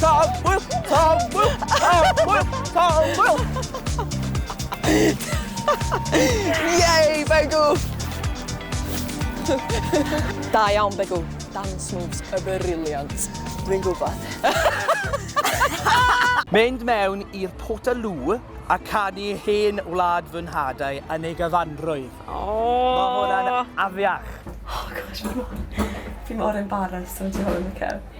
Tafwyl! Tafwyl! Tafwyl! Tafwyl! Yay, Begw! Da iawn, Begw. Dance moves y briliant. Dwi'n gwybod. Mynd mewn i'r Portaloo a canu hen wlad fy nhadau yn ei gyfanrwydd. Oh. Mae hwnna'n afiach. Oh gosh, fi mor embarrassed am ti hwn, Mikel.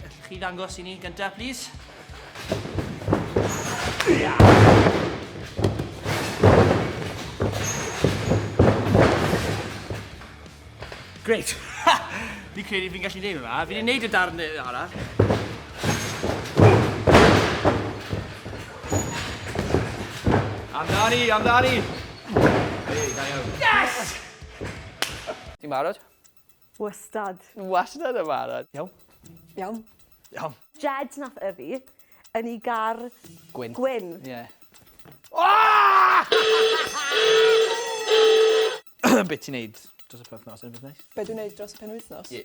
Gallwch chi ddangos i ni gyntaf, plis? Great! Ha! Fi'n credu fi'n gallu neud hwnna. Fi wedi neud y darn arall. Amdani, amdani! Hei, da iawn. Yes! Ti'n barod? Wastad. Wastad yn barod. Iawn. Iawn. Iawn. Jed nath yfu yn i gar... Gwyn. Gwyn. Ie. Aaahh! Be' ti'n neud dros y penwthnos unrhyw beth neis? Be' dwi'n neud dros y penwythnos? Ie.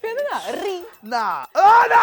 Be oedd hwnna? Ri? Na. O na!